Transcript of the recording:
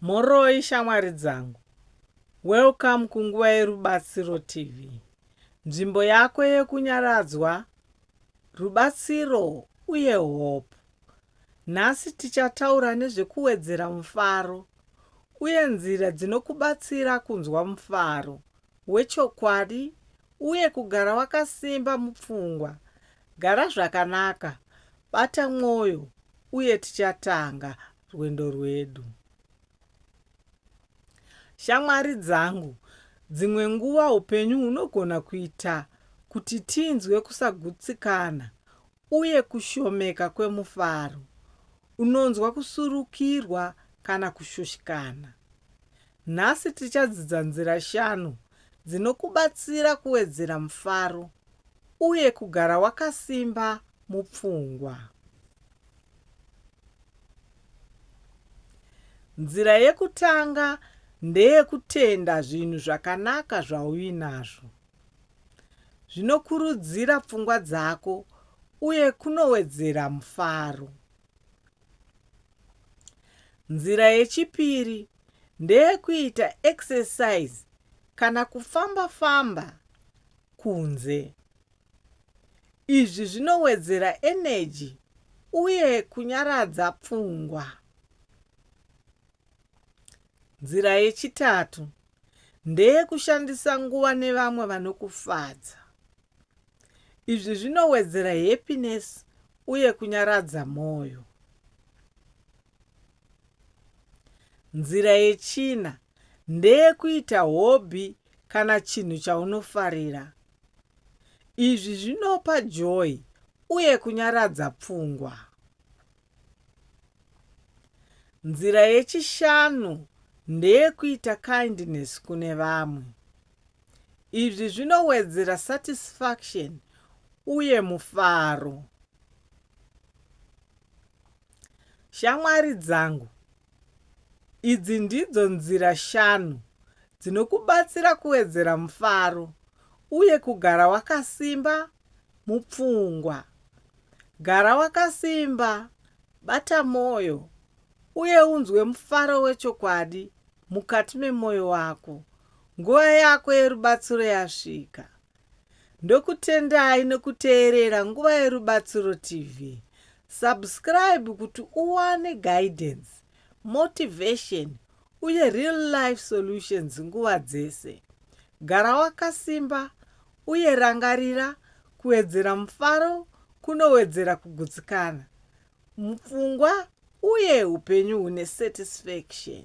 Mhoroi shamwari dzangu. Welcome kunguva yerubatsiro TV. Nzvimbo yako yekunyaradzwa, rubatsiro uye hope. Nhasi tichataura nezvekuwedzera mufaro uye nzira dzinokubatsira kunzwa mufaro wechokwadi uye kugara wakasimba mupfungwa Gara zvakanaka, bata mwoyo, uye tichatanga rwendo rwedu. Shamwari dzangu, dzimwe nguva upenyu hunogona kuita kuti tinzwe kusagutsikana uye kushomeka kwemufaro. Unonzwa kusurukirwa kana kushushikana. Nhasi tichadzidza nzira shanu dzinokubatsira kuwedzera mufaro uye kugara wakasimba mupfungwa. Nzira yekutanga ndeyekutenda zvinhu zvakanaka zvauinazvo. Zvinokurudzira pfungwa dzako uye kunowedzera mufaro. Nzira yechipiri ndeyekuita exercise kana kufamba famba kunze. Izvi zvinowedzera energy uye kunyaradza pfungwa. Nzira yechitatu ndeyekushandisa nguva nevamwe vanokufadza. Izvi zvinowedzera happiness uye kunyaradza mwoyo. Nzira yechina ndeyekuita hobby kana chinhu chaunofarira. Izvi zvinopa joy uye kunyaradza pfungwa. Nzira yechishanu ndeyekuita kindness kune vamwe. Izvi zvinowedzera satisfaction uye mufaro. Shamwari dzangu, idzi ndidzo nzira shanu dzinokubatsira kuwedzera mufaro uye kugara wakasimba mupfungwa. Gara wakasimba, bata mwoyo, uye unzwe mufaro wechokwadi mukati memwoyo wako. Nguva yako yerubatsiro yasvika. Ndokutendai nekuteerera Nguva Yerubatsiro TV. Subscribe kuti uwane guidance, motivation uye real life solutions nguva dzese. Gara wakasimba uye rangarira kuwedzera mufaro kunowedzera kugutsikana. mupfungwa uye upenyu hune satisfaction.